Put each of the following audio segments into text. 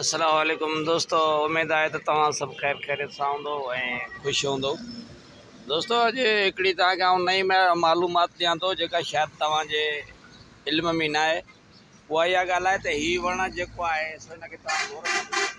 السلام عليڪم دوستو اميد آهي ته توهان سڀ خير خيريت سان هوندو ۽ خوش هوندو دوستو اڄ هڪڙي توهان کي آئون نئين معلومات ڏيان ٿو جيڪا شايد توهان جي علم ۾ نه آهي اها اها ڳالهه آهي ته هي وڻ جيڪو آهي سو هن کي توهان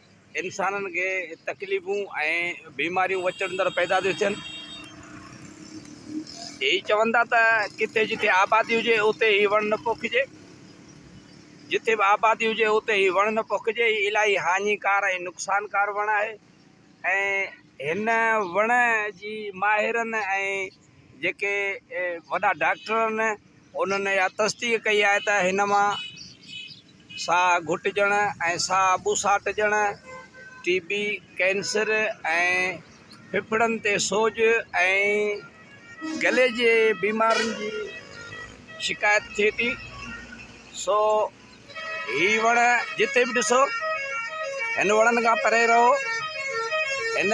انسانن کي تڪليفون ۽ بيماريون وچڙندڙ پيدا ٿيون ٿين. هي چون ٿا ته ڪٿي جتي آبادي هجي اتي هي وڻ نه پوکجي. جتي به آبادي هجي اتي هي وڻ نه پوکجي. هي الاهي هاڃيڪار ۽ نقصانڪار وڻ آهي ۽ هن وڻ جي ماهرن ۽ جيڪي وڏا ڊاڪٽر آهن انهن اها تصديق ڪئي آهي ته هن مان ساهه گهٽجڻ ۽ ساهه ٻوساٽجڻ، ٽي بي، ڪينسر ۽ ڦڦڙن تي سوڄ ۽ گلي جي بيمارين جي شڪايت ٿئي ٿي سو هي وڻ جتي به ڏسو هن وڻن کان پري رهو هن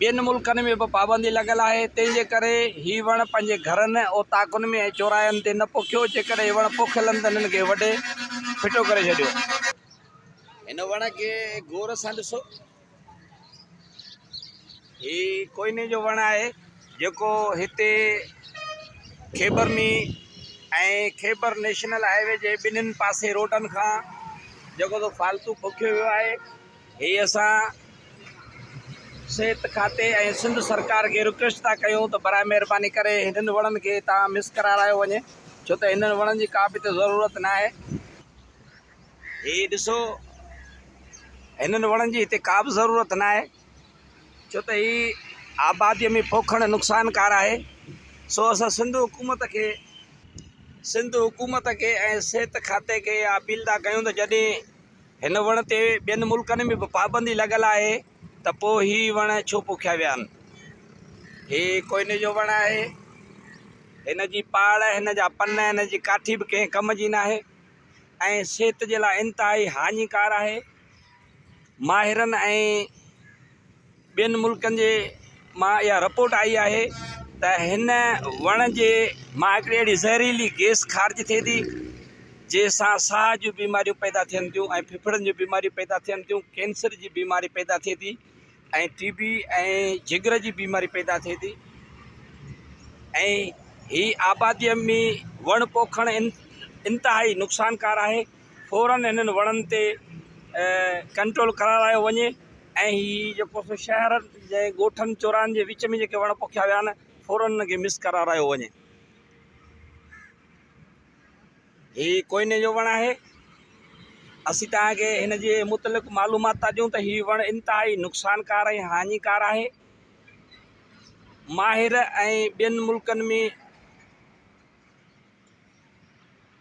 ٻين ملڪن ۾ به پابندي لڳل آهي، تنهن جي ڪري هي وڻ پنهنجي گهرن، اوطاقن ۾ ۽ چوراهن تي نه پوکيو، جيڪڏهن هي وڻ پوکيل آهن ته هنن کي وڍي ڦٽو ڪري ڇڏيو. هن وڻ کي غور سان ڏسو. هي ڪوئني جو وڻ آهي، جيڪو هتي Khyber main ۽ Khyber national highway جي ٻنهين پاسي روڊن کان جيڪو سو فالتو پوکيو ويو آهي. هي اسان صحت کاتي ۽ سنڌ سرڪار کي رڪويسٽ ٿا ڪيون ته برائي مهرباني ڪري هنن وڻن کي هتان مس ڪرارايو وڃي ڇو ته هنن وڻن جي ڪا به هتي ضرورت ناهي هي ڏسو هنن وڻن جي هتي ڪا به ضرورت ناهي ڇو ته هي آباديء ۾ پوکڻ نقصانڪار آهي سو اسان سنڌ حڪومت کي سنڌ حڪومت کي ۽ صحت کاتي کي اپيل ٿا ڪيون ته جڏهن هن وڻ تي ٻين ملڪن ۾ به پابندي لڳل آهي ته پوء هي وڻ ڇو پوکيا ويا آهن. هي ڪوئني جو وڻ آهي. هن جي پاڙ، هن جا پن، هن جي ڪاٺي به ڪنهن ڪم جي ناهي ۽ صحت جي لاء انتهائي هاڃيڪار آهي. ماهرن ۽. ٻين ملڪن جي مان اها رپورٽ آئي آهي ته هن وڻ جي مان هڪڙي اهڙي زهريلي گيس خارج ٿئي ٿي جنهن سان ساهه جون بيماريون پيدا ٿين ٿيون ۽ ڦڦڙن جون بيماريون پيدا ٿين ٿيون ڪينسر جي بيماري پيدا ٿئي ٿي ۽ ٽي بي ۽ جگر جي بيماري پيدا ٿئي ٿي ۽ هي آباديء ۾ وڻ پوکڻ انتهائي نقصانڪار آهي فورا هنن وڻن تي ڪنٽرول ڪرارايو وڃي ۽ هي جيڪو سو شهر جي ڳوٺن چوراهن جي وچ ۾ جيڪي وڻ پوکيا ويا آهن فورا هنن کي مس ڪرارايو وڃي هي ڪوئني جو وڻ آهي اسين تان کي هن جي متعلق معلومات ٿا ڏيون ته هي وڻ انتهائي نقصانڪار ۽ هاڃيڪار آهي ماهر ۽ ٻين ملڪن ۾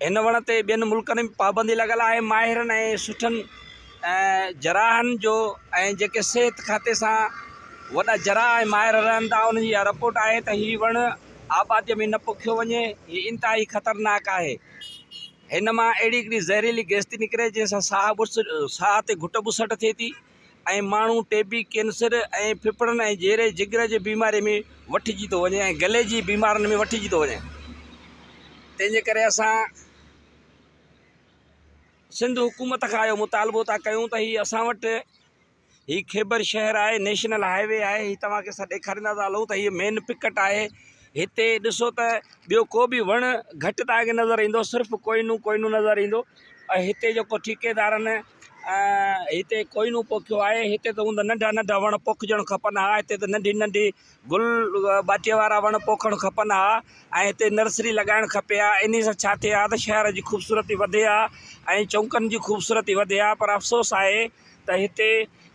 هن وڻ تي ٻين ملڪن ۾ پابندي لڳل آهي ماهرن ۽ سٺن جراحن جو ۽ جيڪي صحت کاتي سان وڏا جراح ۽ ماهر رهن ٿا انهن جي اها رپورٽ آهي ته هي وڻ آباديء ۾ نه پوکيو وڃي هي انتهائي خطرناڪ آهي هن مان اهڙي هڪڙي زهريلي گئس ٿي نڪري جنهن سان ساهه ساهه تي گهٽ ٻسٽ ٿئي ٿي ۽ ماڻهو ٽي بي، ڪينسر ۽ ڦڦڙن ۽ جيري جگر جي بيماري ۾ وٺجي ٿو وڃي ۽ گلي جي بيمارن ۾ وٺجي ٿو وڃي تنهن جي ڪري اسان سنڌ حڪومت کان اهو مطالبو ٿا ڪيون ته هي اسان وٽ هي خيبر شهر آهي نيشنل هاء وي آهي هي توهان کي اسان ڏيکاريندا ٿا هلون ته هي مين پڪٽ آهي هتي ڏسو ته ٻيو ڪو بي وڻ گهٽ تان گهٽ نظر ايندو صرف ڪوهنون ڪوهنون نظر ايندو ۽ هتي جيڪو ٺيڪيدارن هتي ڪوئنو پوکيو آهي هتي ته هوند ننڍا ننڍا وڻ پوکجڻ کپن ها هتي ته ننڍي ننڍي گل ٻاٽي وارا وڻ پوکڻ کپن ها ۽ هتي نرسري لڳائڻ کپي ها انهي سان ڇا ٿئي ها ته شهر جي خوبصورتي وڌي ها ۽ چونڪن جي خوبصورتي وڌي ها پر افسوس آهي ته هتي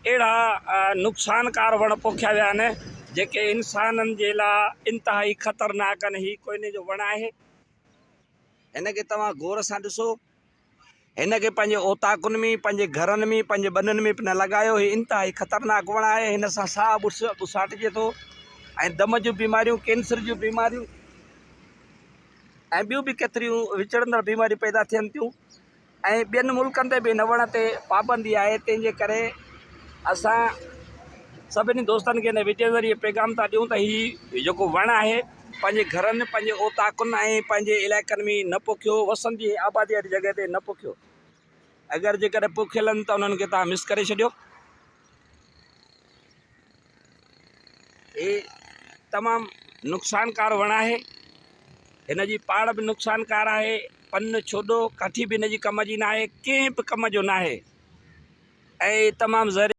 اهڙا نقصانڪار وڻ پوکيا ويا آهن جيڪي انسانن جي لا انتهائي خطرناڪ آهن هي ڪوئني جو وڻ آهي. هن کي توهان غور سان ڏسو. هن کي پنهنجي اوطاقن ۾، پنهنجي گهرن ۾، پنهنجي ٻنن ۾ پنهن لڳايو. هي انتهائي خطرناڪ وڻ آهي. هن سان ساهه ٻساٽجي ٿو ۽ دم جون بيماريون، ڪينسر جون بيماريون ۽ ٻيون به ڪيتريون وچڙندڙ بيماريون پيدا ٿين ٿيون. ۽ ٻين ملڪن تي به هن وڻ تي پابندي آهي تنهن جي ڪري اسان سڀني دوستن کي هن وڊيو ذريعي پيغام ٿا ڏيون ته هي جيڪو وڻ آهي پنهنجي گهرن پنهنجي اوطاقن ۽ پنهنجي علائقن ۾ نه پوکيو وسن جي آبادي واري جڳهه تي نه پوکيو اگر جيڪڏهن پوکيل آهن ته انهن کي تهان مس ڪري ڇڏيو هي تمام نقصانڪار وڻ آهي هن جي پاڙ به نقصانڪار آهي پن ڇوڏو ڪاٺي به هن جي ڪم جي ناهي ڪنهن به ڪم جو ناهي ۽ تمام زهري